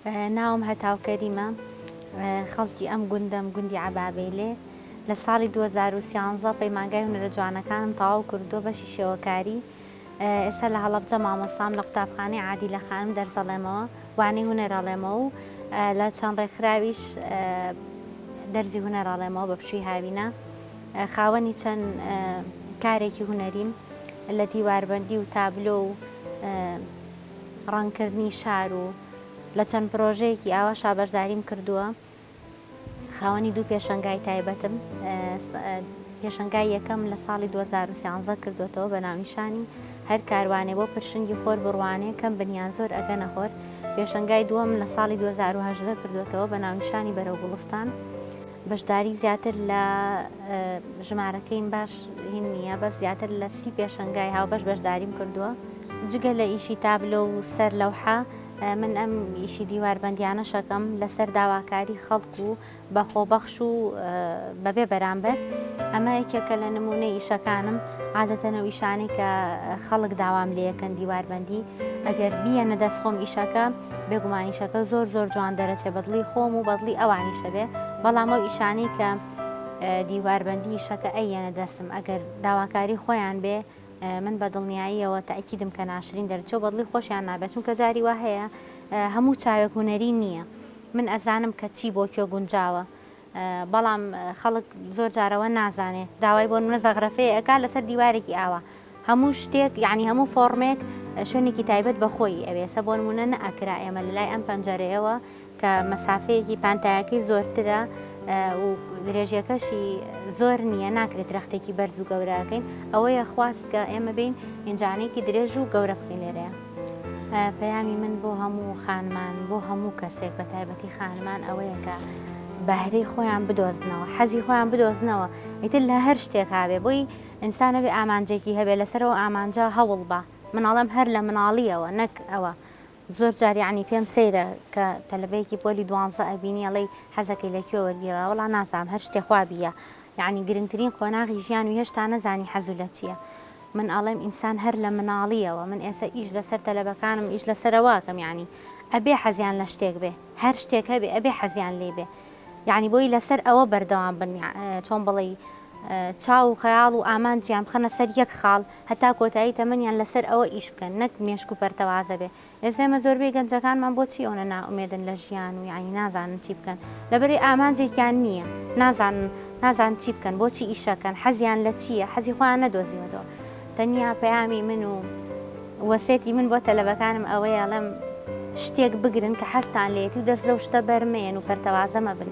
ناوم هەتاو کەریمە خەڵکی ئەم گوندەم گوندی عەبابەیلێ لە ساڵی 2013 پەیمانگای هونەرە جوانەکانم تەواو کردووە بەشی شێوەکاری ئێستا لە هەڵەبجە مامۆستام لە قوتابخانەی عادی لە خانم دەرزەڵێمەوە وانەی هونەرەڵێمە و لە چەند ڕێکخراویش دەرزی هونەرەڵێمەوە بە پشووی هاوینە خاوەنی چەند کارێکی هونەریم لە دیواربندی و تابلۆ و ڕەنگکردنی شار و لە چەند پرۆژەیەکی ئاواشا بەشداریم کردووە خاوەنی دوو پێشنگای تایبەتم پێشنگای یەکەم لە ساڵی 2013 کردوێتەوە بە ناونیشانی هەر کاروانێ بۆ پرشنگی خۆر بڕوانێ کەم بنیان زۆر ئەگە نەخۆر پێشنگای دووەم لە ساڵی 2010 کردوێتەوە بە ناونیشانی بەرەو گوڵستان بەشداری زیاتر لە ژمارەکەیم باش هین نییە بەس زیاتر لە سی پێشەنگای هاوبەش بەشداریم کردووە جگە لە ئیشی تابلۆ و سەر لەوحە من ئەم ئیشی دیواربندیانە شەکەم لەسەر داواکاری خەڵک و بە خۆبەخش و بەبێ بەرامبەر ئەمە یەکێکە لە نمونە ئیشەکانم عادەتەنە ئیشانی کە خەڵک داوام لەکەن دیواربندی ئەگەر بیە نەدەست خۆم ئیشەکە بێگومان ئیشەکە زۆر زۆر جوان دەرەچێ بەدڵی خۆم و بەدڵی ئەوانیشە بێ بەڵام ئەو ئیشانی کە دیواربندی شەکە ئەیەنە دەسم ئەگەر داواکاری خۆیان بێ من بە دڵنیاییەوە تاکیدم کە ناشرین دەرچەوە بەدڵی خۆشیان نابێت چونکە جاری وا هەیە هەموو چاوێک هوەری نییە من ئەزانم کە چی بۆ کوێ گونجاوە بەڵام خەڵک زۆر جار ئەوە نازانێ داوای بۆ نمونە زەغرەفەیە ئەکا لەسەر دیوارێکی ئاوا هەموو شتێک یعنی هەموو فۆڕمێک شوێنێکی تایبەت بە خۆی ئەوێ سە بۆ نمونە نەئەکرا ئێمە لەلای ئەم پەنجەرەیەوە کە مەسافەیەکی پانتایەکەی زۆرترە و درێژیەکەشی زۆر نییە ناکرێت درەختێکی بەرز و گەورەکەین ئەوەیە خواست کە ئێمە بین ئینجانێکی درێژ و گەورە بکەین لێرەیە پەیامی من بۆ هەموو خانمان بۆ هەموو کەسێک بە تایبەتی خانمان ئەوەیە کە بەهرەی خۆیان بدۆزنەوە حەزی خۆیان بدۆزنەوە ئیتر لە هەر شتێک هاابێ بۆی ئینسانەبێ ئامانجێکی هەبێ لەسەرەوە ئامانجا هەوڵ بە مناڵم هەر لە مناڵیەوە نەک ئەوە زۆر جاریانی پێم سەیرە کە تەلبەیەکی پۆلی دوانزە ئەبینیڵی حەزەکەی لەکوێ وەرگیرا وڵا نازام هەر شتێخوابیە یعنی گرنگترین قۆناغی ژیان و هێشتا نەزانی حەزو لە چییە. من ئەڵێم ئینسان هەر لە مناڵیەوە من ئێستا ئیش لەسەر تەلەبەکانم ئیش لەسەرەوە ئەکەم یەعنی ئەبێ حەزیان لە شتێک بێ هەر شتێک هەبێ ئەبێ حەزیان لێی بێ یەعنی بۆی لەسەر ئەوە بەردەوام بن چۆن بڵێی چاو و خەیاڵ و ئامانجیان بخەنە سەر یەک خاڵ هەتا کۆتایی تەمەنیان لەسەر ئەوە ئیش بکەن نەک مێشک و پەرتەوازە بێ ئێسێمە زۆربەی گەنجەکانمان بۆچی ئەونە نائومێدن لە ژیان و یەعنی نازانن چی بکەن لەبەرەی ئامانجێکیان نیە نازانن نازانن چی بکەن بۆچی ئیشەکەن حەزیان لە چیە حەزی خۆیان نەدۆزیوەتەوە تەنیا پەیامی من و وەسێتی من بۆ تەلەبەکانم ئەوەیە ئەڵێم شتێک بگرن کە حەزتان لێیەتی و دەست لەو شتە بەرمەیەن و پەرتەوازە مەبن.